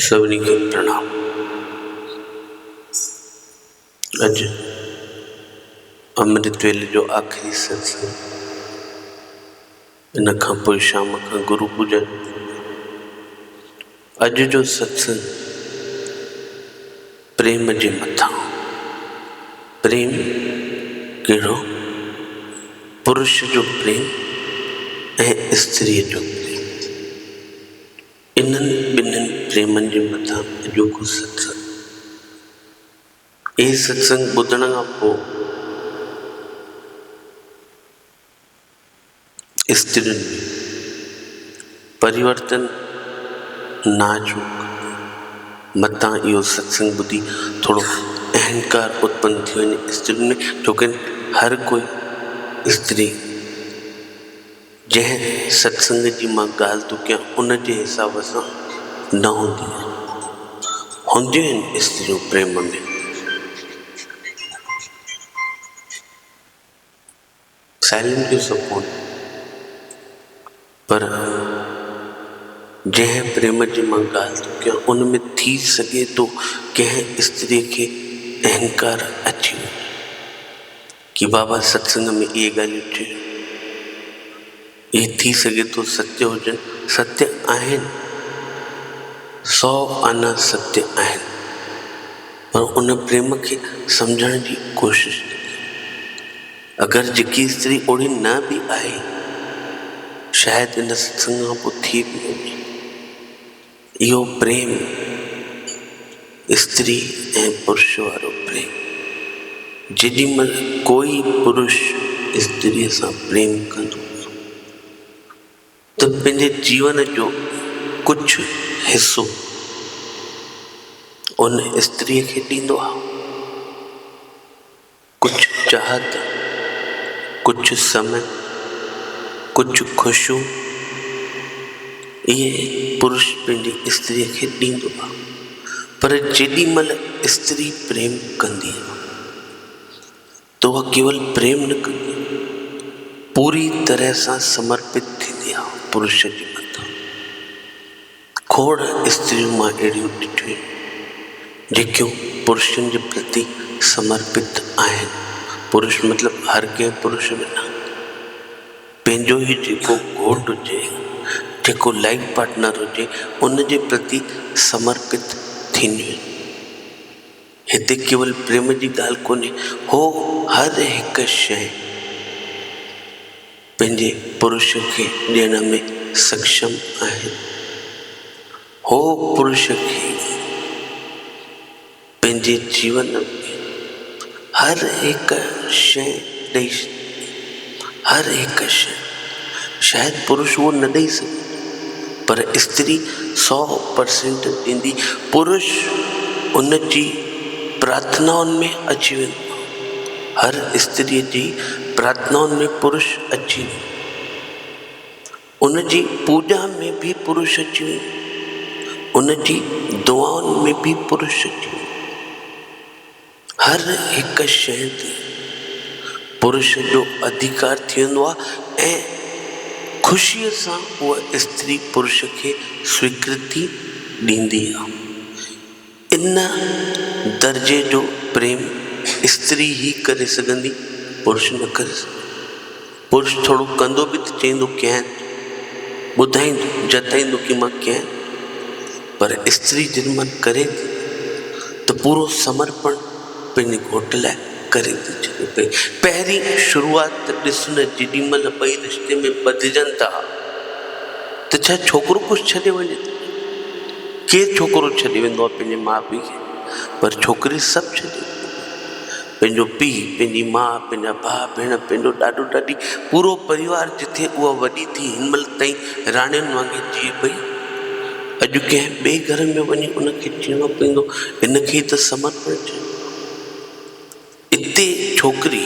سڀني کي پرڻام اڄ امرت ويلي جو آخري ستسنگ ان کان پوء شام کان گرو پوڄا ٿيندي آهي. اڄ جو ستسنگ پريم جي مٿان هو. پريم ڪهڙو؟ پرش جو پريم ۽ استريء جو پريم. انهن ٻنهين پريمن جي مٿان اڄوڪو ستسنگ. هي ستسنگ ٻڌڻ کان پوء استرين ۾ پريورتن ناچوڪ متان اهو ستسنگ ٻڌي ٿورو اهنڪار اتپن ٿي وڃي استرين ۾ ڇوڪرين هر ڪوئي استري جنهن ستسنگ جي مان ڳالهه ٿو ڪيان ان جي حساب سان نه هوندي آهي هونديون آهن استريون پريم ۾. سائلنٽ جو سڪون پر جنهن پريم جي مان ڳالهه ٿو ڪيان ان ۾ ٿي سگهي ٿو ڪنهن استري کي اهنڪار اچي وڃي ڪي بابا ستسنگ ۾ اهي ڳالهيون چيو. هي ٿي سگهي ٿو ستيو هجن. ستيو آهن، سؤ آنا ستيو آهن، پر ان پريم کي سمجهڻ جي ڪوشش نه ڪئي. اگر جيڪي استري اوڙي نه به آهي، شايد ان ستسنگ کان پوء ٿي به وڃي. اهو پريم استري ۽ پرش وارو پريم. جيڏي مهل ڪوئي پرش استريء سان پريم ڪندو ته پنهنجي جيون جو ڪجهه حصو ان استريء کي ڏيندو آهي. ڪجهه چاهت، ڪجهه سم، ڪجهه خوشو اهي پرش پنهنجي استريء کي ڏيندو آ، پر جيڏي مهل استري پريم ڪندي آ ته اها ڪيول پريم نه ڪندي، پوري طرح سان سمرپت ٿيندي آ پرش جي مٿان. کوڙ استريون مان اهڙيون ڏٺيون جيڪيون پرشن جي پرتي سمرپت آهن. پرش مطلب هر ڪنهن پرش بنا پنهنجو ئي جيڪو گهوٽ هجي، جيڪو لائيف پارٽنر هجي، ان جي پرتي سمرپت ٿينديون آهن. هتي ڪيول پريم جي ڳالهه ڪونهي، هو هر هڪ شيء پنهنجي پرش کي ڏيڻ ۾ سکشم آهي. هو پرش کي پنهنجي جيون ۾ هر هڪ شيء ڏئي. هر هڪ شيء شايد پرش اهو نه ڏئي سگهي پر استري سؤ پرسينٽ ڏيندي، پرش ان جي پرارٿنائن ۾ اچي ويندو آهي، هر استريء جي پرارٿنائن ۾ پرش اچي ويندو آهي، ان جي پوڄا ۾ به پرش اچي ويندو آهي، ان جي دعائن ۾ به پرش اچي ويندو آهي. هر هڪ شيء تي پرش جو اڌيڪار ٿيندو آهي ۽ خوشيء سان اها استري پرش کي سويڪرتي ڏيندي آهي. ان درجي جو پريم استري ئي ڪري سگهندي، پرش نه ڪري سگهندو. پرش ٿورو ڪندو به ته چئيندو ڪين، ٻڌائيندو، جتائيندو ڪي مان ڪين، پر استري جن من ڪري ٿي ته پورو سمرپڻ پنهنجي گهوٽ لاء ڪري ٿي ڇڏي پئي. پهرين شروعات ته ڏس نه جيڏي مهل ٻئي رشتي ۾ ٻڌجن ٿا ته ڇا ڇوڪرو ڪجهه ڇڏي وڃي ٿو؟ ڪير ڇوڪرو ڇڏي ويندو آهي پنهنجي ماء پيء کي پر ڇوڪري سڀ ڇڏي ويندي آهي. پنهنجو پيء، پنهنجي ماء، پنهنجا ڀاء ڀيڻ، پنهنجو ڏاڏو ڏاڏي، پورو پريوار جٿي اها وڏي ٿي هن مهل تائين راڻين وانگي جيئي پئي، اڄ ڪنهن ٻئي گهر ۾ وڃي ان کي جيئڻو پوندو، ان کي ئي ته سمرپڻ چئبو. اتي ڇوڪري.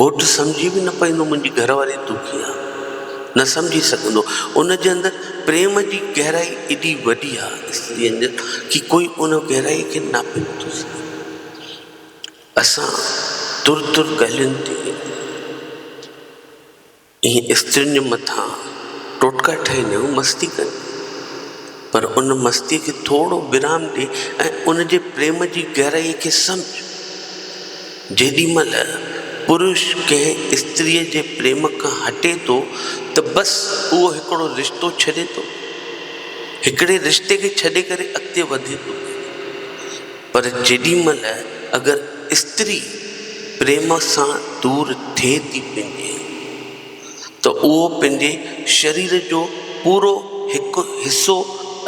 گهوٽ سمجهي به نه پئندو منهنجي گهر واري دکي آ نه سمجهي سگهندو ان جي اندر پريم جي گهرائي ايڏي وڏي آ استري انجل ڪي ڪوئي ان گهرائي کي ناپي نه ٿو سگهي اسان تر تر ڳالهين تي ائين استرين جي مٿان ٽوٽڪا ٺهي نيون مستي ڪن، پر ان مستيء کي ٿورو ويرام ڏي ۽ ان جي پريم جي گهرائيء کي سمجهه. جيڏي مهل پرش ڪنهن استريء جي پريم کان هٽي ٿو ته بس اهو هڪڙو رشتو ڇڏي ٿو، هڪڙي رشتي کي ڇڏي ڪري اڳتي وڌي ٿو. پر جيڏي مھل اگر استري پريم سان دور ٿئي ٿي پنھنجي ته اھو پنھنجي شرير جو پورو ھڪ حصو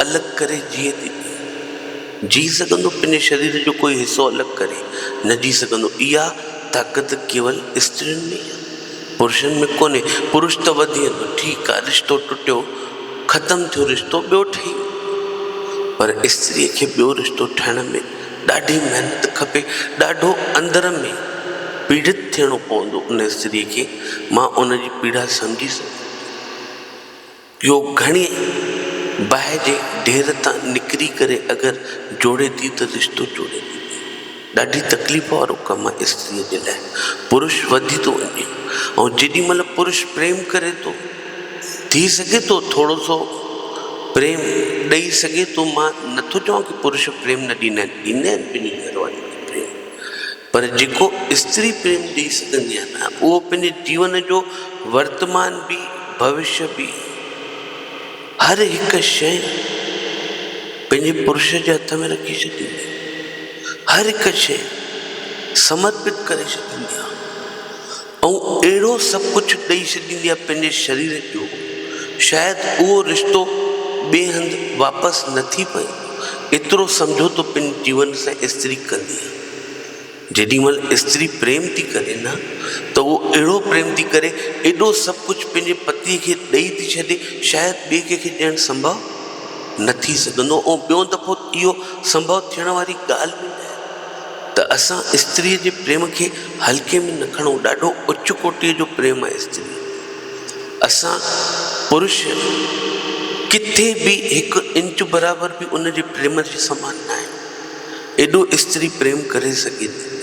الڳ ڪري جيئي ٿي پئي. جيئي سگھندو پنھنجي شرير جو ڪوئي حصو الڳ ڪري نه جيئي سگھندو. اھا طاقت ڪيول استرين ۾ ئي آھي. پرشن ۾ ڪونهي پرش ته وڌي ويندو ٺيڪ آهي رشتو ٽٽيو ختم ٿيو رشتو ٻيو ٺهي ويندو پر استري کي ٻيو رشتو ٺهڻ ۾ ڏاڍي محنت کپي ڏاڍو اندر ۾ پيڙت ٿيڻو پوندو ان استري کي مان ان جي پيڙا سمجهي سگهندو آهيان. يو گهڻي باهه جي ڍير تان نڪري ڪري اگر جوڙي ٿي ته رشتو جوڙي ڏيندي. ڏاڍي تڪليف وارو ڪم آهي استريء جي لاء. پرش وڌي ٿو وڃي ۽ جيڏي مهل پرش پريم ڪري ٿو، ٿي سگهي ٿو ٿورو سو پريم ڏئي سگهي ٿو، مان نه ٿو چوان ڪي پرش پريم نه ڏيندا آهن، ڏيندا آهن، ٻنهي گهر وارن کي پريم. پر جيڪو استري پريم ڏئي سگهندي آهي نه اهو پنهنجي جيون جو ورتمان به ڀوشيه به هر هڪ شيء پنهنجي پرش جي هٿ ۾ رکي ڇڏيندي آهي هر هڪ شيء سمرپت ڪري ڇڏيندي آهي ائون اهڙو سڀ ڪجهه ڏئي ڇڏيندي آهي پنهنجي شرير جو شايد اهو رشتو ٻئي هنڌ واپس نه ٿي پئي ايترو سمجهوتو پنهنجي جيون سان استري ڪندي آهي جيڏي مهل استري پريم ٿي ڪري نه ته اهو اهڙو پريم ٿي ڪري ايڏو سڀ ڪجهه پنهنجي پتيء کي ڏئي ٿي ڇڏي شايد ٻئي ڪنهن کي ڏيڻ سمڀو نه ٿي سگهندو ۽ ٻيون دفعو اهو سمڀو ٿيڻ واري ڳالهه به نه آهي. ته اسان استريء جي پريم کي هلڪي ۾ نه کڻون، ڏاڍو اچ ڪوٽيء جو پريم آهي استري. اسان پرش ڪٿي به هڪ انچ برابر به ان جي پريم جي سمان ناهيون، ايڏو استري پريم ڪري سگهي ٿي.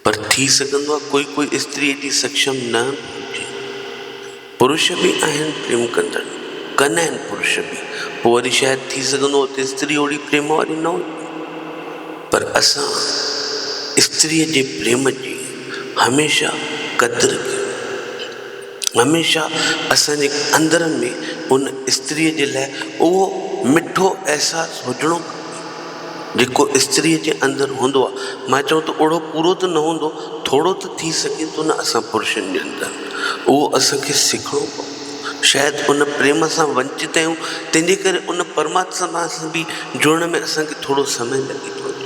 پر ٿي سگهندو آهي ڪوئي ڪوئي استري ايڏي سڪشم نه به هجي. پرش به آهن پريم ڪندڙ، ڪن آهن پرش به، پوء وري شايد ٿي سگهندو هو ته استري اوڙي پريم واري نه هجي. پر اسان استريء جي پريم جي هميشه قدر ڪيون. هميشه اسان جي اندرن ۾ ان استريء جي لاء اهو مٺو احساس هجڻو کپي، جيڪو استريء جي اندر هوندو آهي. مان چوان ٿو اوهڙو پورو ته نه هوندو، ٿورو ته ٿي سگهي ٿو نه اسان پرشن جي اندر. اهو اسان کي سکڻو پوندو. شايد ان پريم سان ونچت آهيون، تنهن جي ڪري ان پرماتما سان به جڙڻ ۾ اسان کي ٿورو سمئي لڳي ٿو وڃي.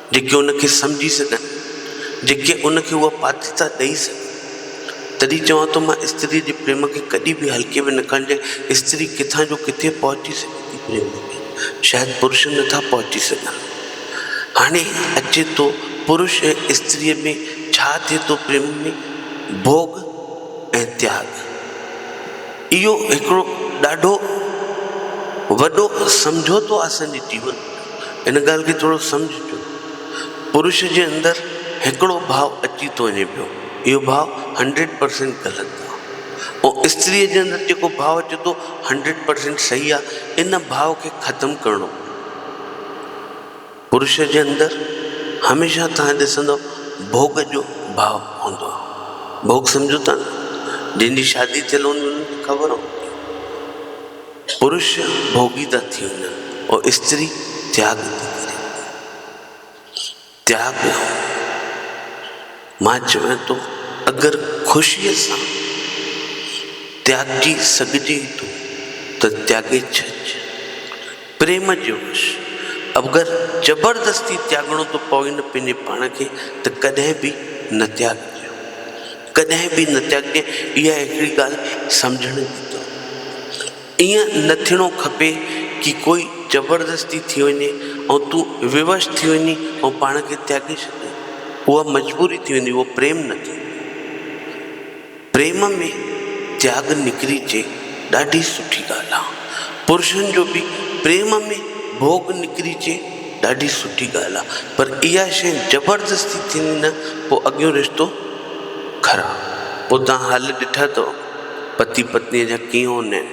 جيڪي ان کي سمجهي سگهن، جيڪي ان کي اها پاتيتا ڏئي سگهن. تڏهن چوان ٿو مان استريء جي پريم کي ڪڏهن به هلڪي ۾ نه کڻجي، استري ڪٿان جو ڪٿي پهچي سگهي ٿي پريم ۾، شايد پرش نٿا پهچي سگهن. هاڻي اچي ٿو پرش ۽ استريء ۾ ڇا ٿئي ٿو پريم ۾، ڀوڳ ۽ تياڳ. اهو هڪڙو ڏاڍو وڏو سمجهوتو آسان جي جيون. هن ڳالهه کي ٿورو سمجهجو. پرش جي اندر هڪڙو ڀاء اچي ٿو وڃي پيو. اهو ڀاء هنڊريڊ پرسينٽ غلط آ. ۽ استريء جي اندر جيڪو ڀاء اچي ٿو هنڊريڊ پرسينٽ صحيح آ. ان ڀاء کي ختم ڪرڻو پوندو. پرش جي اندر هميشه توهان ڏسندؤ ڀوڳ جو ڀاء هوندو آ. ڀوڳ سمجهو ٿا نه؟ جنهن جي شادي ٿيل هوندي انکي خبر هوندي. پرش ڀوڳي ٿا ٿي وڃن ۽ استري تياڳ ٿي ڪري. تياڳ مان چوان ٿو اگر خوشيء سان تياڳجي سگهجي ٿو ته تياڳي ڇڏج. پريم جو وش اگر زبردستي تياڳڻو ٿو پوين پنهنجي پاڻ کي ته ڪڏهن به نه تياڳجو. ڪڏهن به نتياڳي اها هڪڙي ڳالهه سمجهڻ جي ته ائين نه ٿيڻو کپي ڪي ڪوئي زبردستي ٿي وڃي ۽ تون ووش ٿي وڃي ۽ پاڻ کي تياڳي ڇڏين اها مجبوري ٿي ويندي اهو پريم نه ٿيندو پريم ۾ تياڳ نڪري چي ڏاڍي سٺي ڳالهه آهي پرشن جو به پريم ۾ ڀوڳ نڪري چي ڏاڍي سٺي ڳالهه آ پر اها شي زبردستي ٿيندي نه پو اڳيون رشتو خراب پو توهان حل ڏٺا تؤ پتي پتني جا ڪيون نين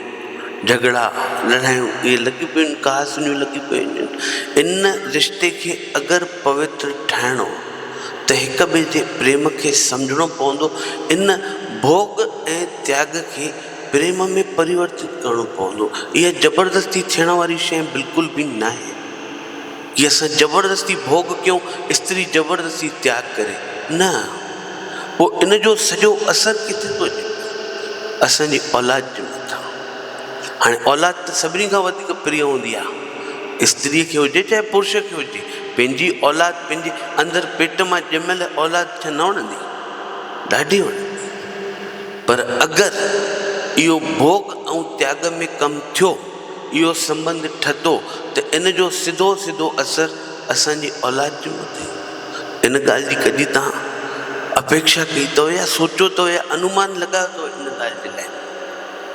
جهڳڙا لڙايون اهي لڳيون پيون ان ڪهاسنيون لڳيون پيون ان ان رشتي کي اگر پوتر ٺاهڻو ته هڪ ٻئي جي پريم کي سمجهڻو پوندو ان ڀوڳ ۽ تياڳ کي برهما ۾ پريورتت ڪرڻو پوندو. اها زبردستي ٿيڻ واري شيء بلڪل به ناهي، جي اسان زبردستي ڀوڳ ڪيون، استري زبردستي تياڳ ڪري، نه، پوء ان جو سڄو اثر ڪٿي ٿو اچي؟ اسان جي اولاد جي مٿان. هاڻي اولاد ته سڀني کان وڌيڪ پريا هوندي آهي. استريء کي هجي چاهي پرش کي هجي، پنهنجي اولاد، پنهنجي اندر پيٽ مان ڄميل اولاد ڇا نه وڻندي؟ ڏاڍي وڻندي. پر اگر اهو ڀوڳ ۽ تياڳ ۾ ڪم ٿيو، اهو سنٻنڌ ٺتو ته ان جو سڌو سڌو اثر اسان جي اولاد جي مٿي هوندو. ان ڳالهه جي ڪڏهن توهان اپيڪشا ڪئي اٿو يا سوچيو اٿو يا انومان لڳايو اٿو ان ڳالهه جي لاء؟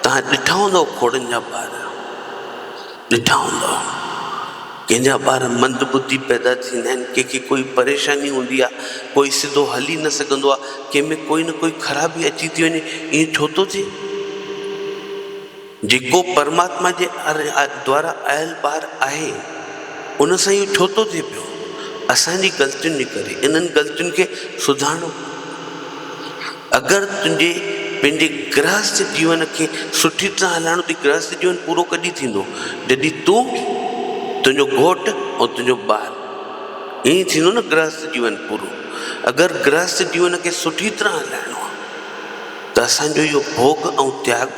توهان ڏٺا هوندؤ کوڙن جا ٻار ڏٺا هوندا ڪنهن جا ٻار مند ٻڌي پيدا ٿيندا آهن ڪنهن کي ڪوئي پريشاني هوندي آهي ڪوئي سڌو هلي نه سگهندو آهي ڪنهن ۾ ڪوئي نه ڪوئي خرابي اچي ٿي وڃي ائين ڇو ٿو ٿئي جيڪو پرماتما جي دوارا آيل ٻار آهي ان سان اهو ڇو ٿو ٿئي پيو اسان جي غلطين جي ڪري انهن غلطين کي سڌارڻو اگر تنهنجي پنهنجي گرهست جيون کي سٺي طرح هلائڻو اٿئي، گرهست جيون پورو ڪڏهن ٿيندو؟ جڏهن تون، تنهنجو گهوٽ ۽ تنهنجو ٻار. ائين ئي ٿيندو نه گرهست جيون پورو. اگر گرهست جيون کي سٺي طرح هلائڻو آهي ته اسان جو اهو ڀوڳ ۽ تياڳ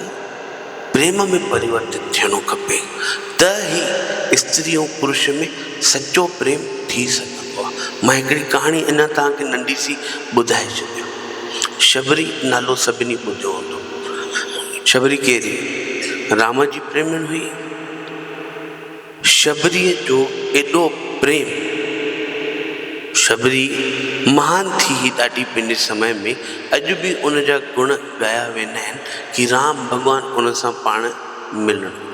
پريم ۾ پريورتت ٿيڻو کپي ته ئي استري ۽ پرش ۾ سچو پريم ٿي سگهندو. مان هڪڙي ڪهاڻي اڃا توهان کي ننڍي سي ٻڌائي ڇڏيان. شبري نالو سڀني ٻڌو هوندو. شبري ڪير هئي؟ رام جي پريمڻ هئي. شبريء جو ايڏو پريم! شبري مهان ٿي هئي ڏاڍي پنهنجي سمي ۾. اڄ به ان جا گڻ ڳايا ويندا آهن ڪي رام ڀڳوان ان سان پاڻ ملڻ ويو.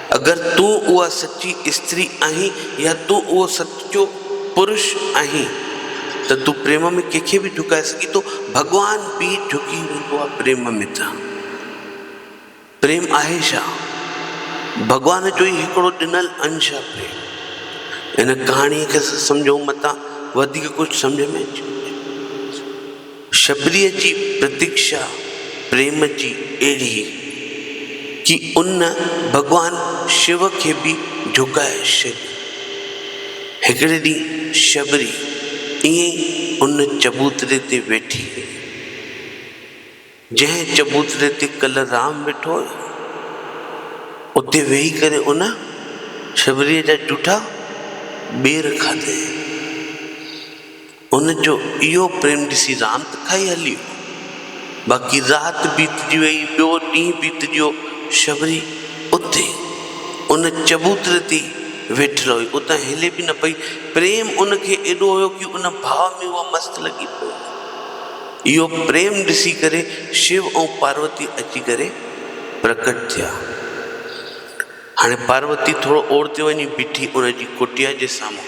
اگر تون اها سچي استري آهين يا تون اهو سچو پرش آهين ته تون پريم ۾ ڪنهن کي به ڍڪائي سگهين ٿو، ڀڳوان به ڍڪي ويندو آهي پريم ۾ ته پريم آهي ڇا؟ ڀڳوان جو ئي هڪڙو ڏنل انش آهي پريم. ان ڪهاڻيء کي سمجهو متان وڌيڪ ڪجهه سمجهه ۾ اچي وڃي. شبريء جي پرتيڪشا پريم جي اهڙي هئي ڪي ان ڀڳوان شو کي به جهڪائي ڇڏيو. هڪڙي ڏينهن شبري ائين ئي ان چبوتري تي ويٺي هئي، جنهن چبوتري تي ڪل رام ويٺو هيو. اتي ويهي ڪري ان شبريء جا جوٺا ٻير کاڌائين. هن جو اهو پريم ڏسي رات کائي هلي ويو. باقي رات بيتجي ويئي، ٻيو ڏينهن بيتجيو، شبري اتي ان چبوتري تي ئي ويٺل هئي، اتان هلي به نه پئي. پريم ان کي ايڏو هيو ڪي ان ڀاء ۾ اها مست لڳي پئي هئي. اهو پريم ڏسي ڪري شو ۽ پاروتي اچي ڪري پرڪٽ ٿيا. هاڻي پاروتي ٿورو اوڙتي وڃي بيٺي ان جي ڪٽيا جي سامهون.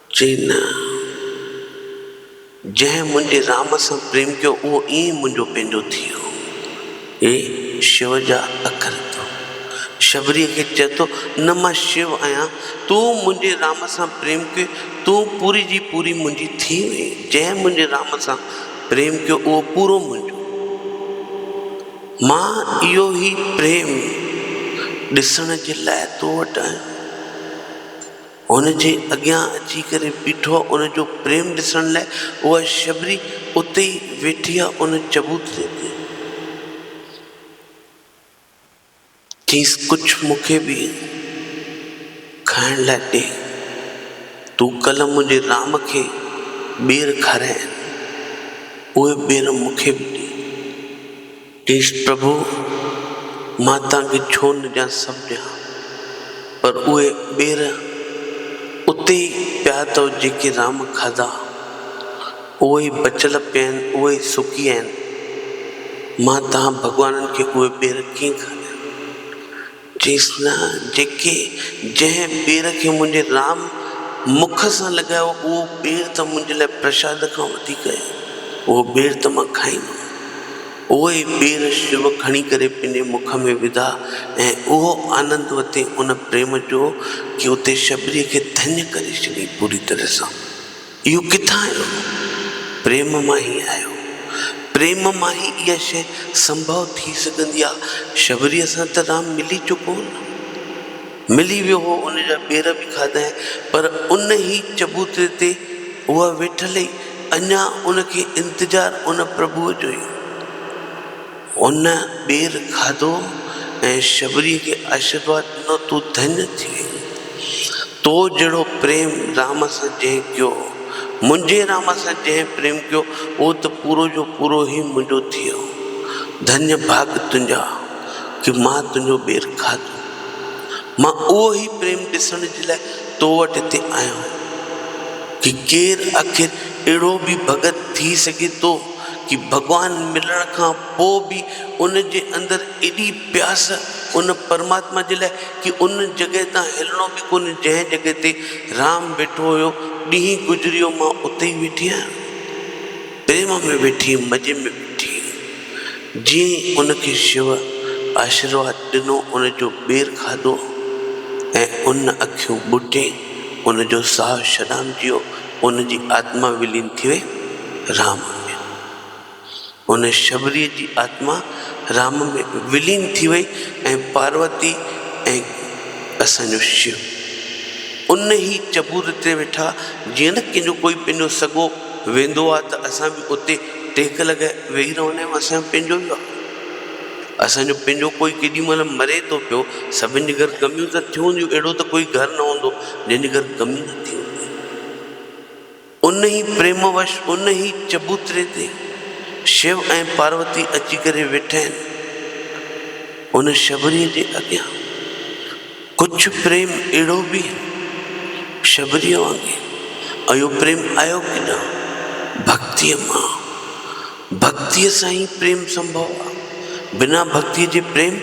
چئي نه، جنهن منهنجي رام سان پريم ڪيو، اهو ائين منهنجو پنهنجو ٿي ويو. هي شو جا اکر ٿو. شبريء کي چئي ٿو، نه مان شو آهيان، تون منهنجي رام سان پريم ڪيو، تون پوري جي پوري منهنجي ٿي وئين، جنهن منهنجي رام سان پريم ڪيو، اهو پورو منهنجو. مان اهو هي پريم ڏسڻ جي لاء تو وٽ آيو. هن جي اڳيان اچي ڪري بيٺو آ ان جو پريم ڏسڻ لاء اها شبري اتي ئي ويٺي آ ان چبوت جي اڳيان. چيس ڪجهه مون کي به کائڻ لاء ڏي تون ڪلهه منهنجي رام کي ٻير کارايائين اهي ٻير مون کي به ڏي. ڪرشن، پرڀو! مان تان کي ڇو نه ڏيان سڀ ڏيان، پر اهي ٻير اتي ئي پيا اٿئو جيڪي رام کاڌا، اهي ئي بچل پيا آهن، اهي ئي سڪي آهن، مان تان ڀڳوانن کي اهي ٻير ڪيئن کاريان؟ چيس نه جيڪي جنهن پير کي منهنجي رام مک سان لڳايو اهو پير ته منهنجي لاء پرشاد کان وڌيڪ آهي اهو پير ته مان کائيندم. اهو ئي پير شو کڻي ڪري پنهنجي مک ۾ وڌا ۽ اهو آنند وتي ان پريم جو ڪي اتي شبري کي ڌڃ ڪري ڇڏي پوري طرح سان. اهو ڪٿان آيو؟ پريم مان ئي آيو. پريم مان ئي اها شيء سنڀو ٿي سگهندي آ. شبريء سان ته رام ملي چڪو هو نه. ملي ويو هو، ان جا پير به کاڌائين، پر ان ئي چبوتري تي اها ويٺل هئي، اڃا ان کي انتظار ان پرڀوء جو ئي هو. هن ٻير کاڌو ۽ شبريء کي آشيرواد ڏنو، تون ڌنيء ٿي ويندين. تو جهڙو پريم رام سان جنهن ڪيو، منهنجي رام سان جنهن پريم ڪيو، اهو ته پورو جو پورو هي منهنجو ٿي ويو. ڌنيء ڀاڳ تنهنجا ڪي مان تنهنجو ٻير کاڌو. مان اهو هي پريم ڏسڻ جي لاء تو وٽ هتي آيو آهيان. ڪي ڪير آخر اهڙو به ڀڳت ٿي سگهي ٿو؟ ڪي ڀڳوان ملڻ کان پوء به ان جي اندر ايڏي پياس ان پرماتما جي لاء ڪي ان جڳهه تان هلڻو به ڪونهي جنهن جڳهه تي رام ويٺو هيو ڏينهن گذريو مان اتي ئي ويٺي آهيان پريم ۾ ويٺي مزي ۾ ويٺي جيئن ئي ان کي شو آشرواد ڏنو ان جو ٻير کاڌو ۽ ان اکيون ٻوٽي ان جو ساهه شڏام جيو ان جي آتما ولين ٿئي رام ۾. ان شبريء جي آتما رام ۾ ولين ٿي وئي ۽ پاروتي ۽ اسان جو شو ان ئي چبوتري تي ويٺا. جيئن نه ڪنهن جو ڪوئي پنهنجو سڳو ويندو آ ته اسان به اتي ٽيڪ لڳائي ويهي رهندا آهيون، اسان جو پنهنجو ئي آ. اسان جو پنهنجو ڪوئي ڪيڏي مهل مري ٿو پيو، سڀن جي گهر غميون ته ٿيون هونديون، اهڙو ته ڪوئي گهر نه هوندو جنهن جي گهر غمي نه ٿي هوندي. ان ئي پريم وش، ان ئي چبوتري تي شو ۽ پاروتي اچي ڪري ويٺا آهن. ان شبريء جي اڳيان ڪڇ پريم اهڙو به شبريء وانگي اهو پريم آيو ڪيڏانهن؟ ڀڳتيء مان. ڀڳتيء سان ئي پريم سنڀو آ. بنا ڀڳتيء جي پريم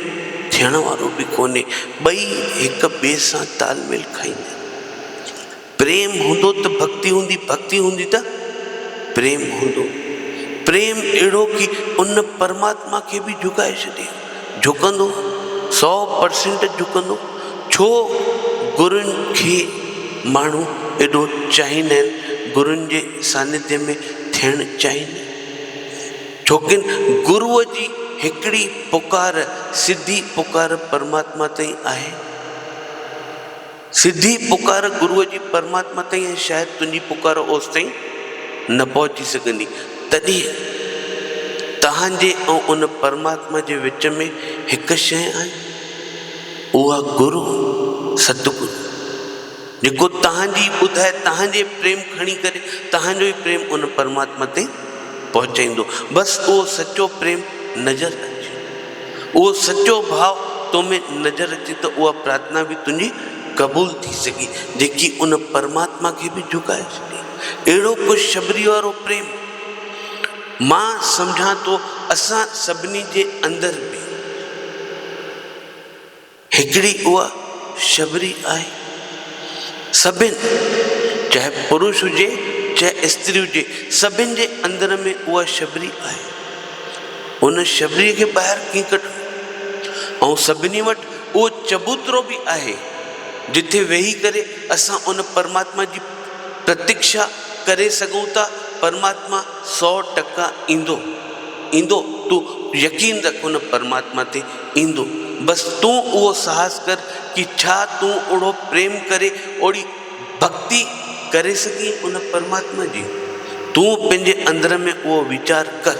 ٿيڻ وارو به ڪونهي. ٻئي هڪ ٻئي سان تال ميل کائيندا آهن. پريم هوندو ته ڀڳتي هوندي، ڀڳتي هوندي ته پريم هوندو. پريم اهڙو ڪي ان پرماتما کي به جهڪائي ڇڏي. جهڪندو، سؤ پرسنٽ جهڪندو. ڇو گرن کي ماڻهو ايڏو چاهيندا آهن، گرن جي سانڌيء ۾ ٿيڻ چاهيندا آهن. ڇوڪن گروء جي هڪڙي پڪار، سڌي پڪار پرماتما تائين آهي. سڌي پڪار گروء جي پرماتما تائين ۽ شايد تنهنجي پڪار اوستائين نه پهچي سگهندي. تڏهن توهانجي ۽ ان پرماتما جي وچ ۾ هڪ شيء آهي، اها گرو، ست گرو، جيڪو توهانجي ئي ٻڌائي، توهانجي پريم کڻي ڪري، توهانجو ئي پريم ان پرماتما تائين پهچائيندو. بس اهو سچو پريم نظر اچي. اهو سچو ڀاء تو ۾ نظر اچي ته اها پرارٿنا به تنهنجي قبول ٿي سگهي، جيڪي ان پرماتما کي به جهڪائي ڇڏي. اهڙو خوشخبريء وارو پريم! مان سمجهان ٿو اسان سڀني جي اندر به. هڪڙي اها شبري آهي. سڀن، چاهي پروش هجي، چاهي استري هجي، سڀن جي اندر ۾ اها شبري آهي. ان شبريء کي ٻاهر ڪيئن ڪڍون؟ ائين سڀني وٽ اهو چبوترو به آهي، جتي ويهي ڪري اسان ان پرماتما جي پرتڪشا ڪري سگهون ٿا، پرماتما سؤ ٽڪا ايندو. ايندو، تون يقين رک ان پرماتما تي. ايندو، بس تون اهو ساهس ڪر ڪي ڇا تون اوڙهو پريم ڪري اوڙهي ڀڳتي ڪري سگهين ان پرماتما جي؟ تون پنهنجي اندر ۾ اهو ويچار ڪر.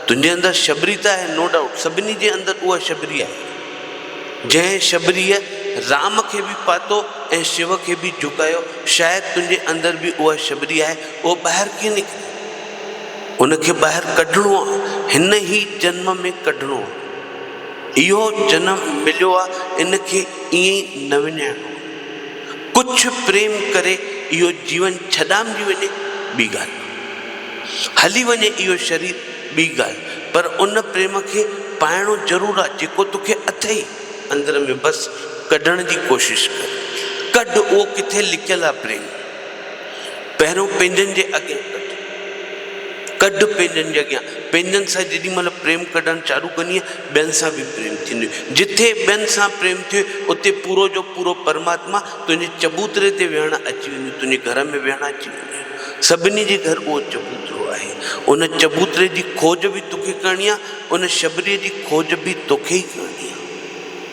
تنهنجي اندر شبري ته آهي نو ڊائوٽ سڀني جي اندر اها شبري آهي. جنهن شبريء رام کي به پاتو ۽ شو کي به جهڪايو شايد تنهنجي اندر به اها شبري آهي اهو ٻاهر ڪي نڪري. ان کي ٻاهر ڪڍڻو آ هن هي جنم ۾ ڪڍڻو آ اهو جنم مليو آ ان کي ائين ئي نه وڃائڻو آ ڪڇ پريم ڪري اهو جيون ڇڏامجي وڃي ٻي ڳالهه هلي وڃي اهو شرير ٻي ڳالهه پر ان پريم کي پائڻو ضرور آ جيڪو توکي اٿئي اندر ۾ بس ڪڍڻ جي ڪوشش ڪر ڪڍ اهو ڪٿي لڪيل آ پريم. پهريون پنهنجن جي اڳيان ڪڍ. ڪڍ پنهنجن جي اڳيان. پنهنجن سان جيڏي مهل پريم ڪڍڻ چالو ڪندينء، ٻين سان به پريم ٿيندوئي. جتي ٻين سان پريم ٿيوئي، اتي پورو جو پورو پرماتما تنهنجي چبوتري تي ويهڻ اچي ويندو، تنهنجي گهر ۾ ويهڻ اچي ويندوئي. سڀني جي گهر اهو چبوترو آهي. ان چبوتري جي کوج به توکي ڪرڻي آهي، ان شبريء جي کوج به توکي ئي ڪرڻي آهي.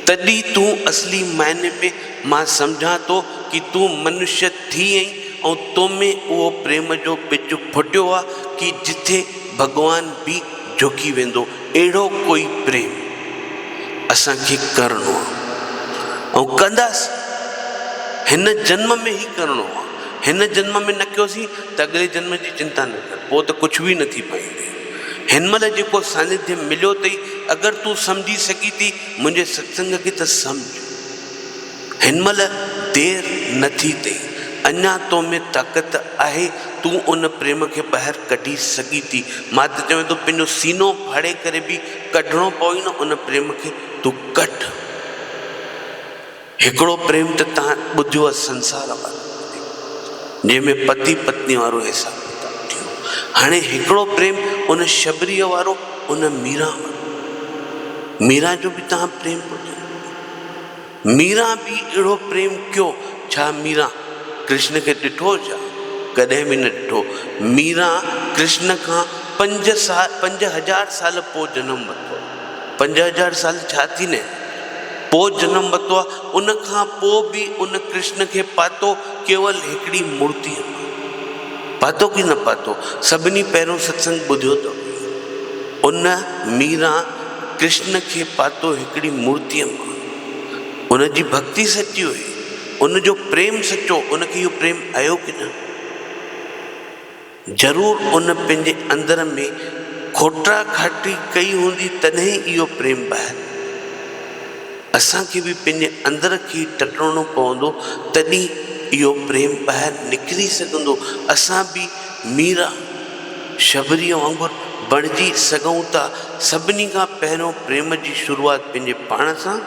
تڏهن تون اصلي معني ۾ مان سمجهان ٿو ڪي تون منشيء ٿي ايئن ۽ تو ۾ اهو پريم جو ٻج ڦٽيو آ ڪي جٿي ڀڳوان به جهڪي ويندو اهڙو ڪوئي پريم اسان کي ڪرڻو آ ۽ ڪنداسين هن جنم ۾ هي ڪرڻو آ هن جنم ۾ نه ڪيوسين ته اڳلي جنم جي چنتا نه ڪر پو ته ڪڇ به نه ٿي پائيندي هن مهل جيڪو سانيڌي مليو تئي اگر تون سمجهي سگهي ٿي منهنجي ستسنگ کي ته سمجهه. هن مهل دير نه ٿي اٿئي، اڃا تو ۾ طاقت آهي، تون ان پريم کي ٻاهر ڪڍي سگهين ٿي. مان ته چوين ٿو پنهنجو سينو ڦاڙي ڪري به ڪڍڻو پوي نه ان پريم کي تون ڪڍ. هڪڙو پريم ته تان ٻڌيو آهي سنسار وارو پريم، جنهن ۾ پتي پتني وارو حساب ڪتاب ٿيو هو، هاڻي هڪڙو پريم ان شبريء وارو، ان ميران وارو. ميران جو به تان پريم ٻڌيو هوندو. ميران به اهڙو پريم ڪيو. ڇا ميران ڪرشن کي ڏٺو هو ڇا؟ ڪڏهن به نه ڏٺو. ميران ڪرشن کان پنج سال پنج هزار سال پوء جنم ورتو آهي. پنج هزار سال ڇا ٿينئي پوء جنم ورتو آهي. ان کان پوء به ان ڪرشن کي پاتو ڪيول هڪڙي مورتيء مان. پاتو ڪي نه پاتو. سڀني پهريون ستسنگ ٻڌيو ته هئي. ان ميران. ڪرشن کي پاتو هڪڙي مورتيء مان. ان جي ڀڳتي سچي هئي، ان جو پريم سچو هو، ان کي اهو پريم ايو ڪي نه؟ ضرور ان پنهنجي اندر ۾ کوٽرا کاٽي ڪئي هوندي تڏهن ئي اهو پريم ٻاهر آيو. اسان کي به پنهنجي اندر کي ٽٽڻو پوندو تڏهن اهو پريم ٻاهر نڪري سگهندو، اسان به ميرا. شبريء وانگر بڻجي سگهون ٿا. سڀني کان پهريون پريم جي شروعات پنهنجي پاڻ سان،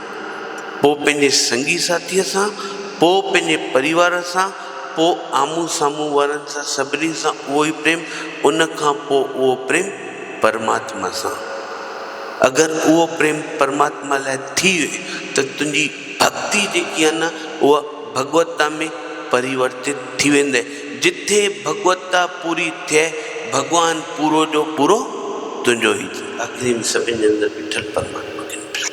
پوء پنهنجي سنگي ساٿيء سان، پوء پنهنجي پريوار سان، پوء آمهون سامهون وارن سان، سڀني سان اهو ئي پريم، ان کان پوء اهو پريم پرماتما سان. اگر اهو پريم پرماتما لاء ٿئي ته تنهنجي. ڀڳتي جيڪي آهي نه اها ڀڳوتا ۾ پريورتت ٿي ويندي، جتي ڀڳوتا پوري ٿئي، ڀڳوان پورو جو پورو تنهنجو ئي ٿئي. آخري ۾ سڀن جي اندر بيٺل پرماتما کي ڏٺائون.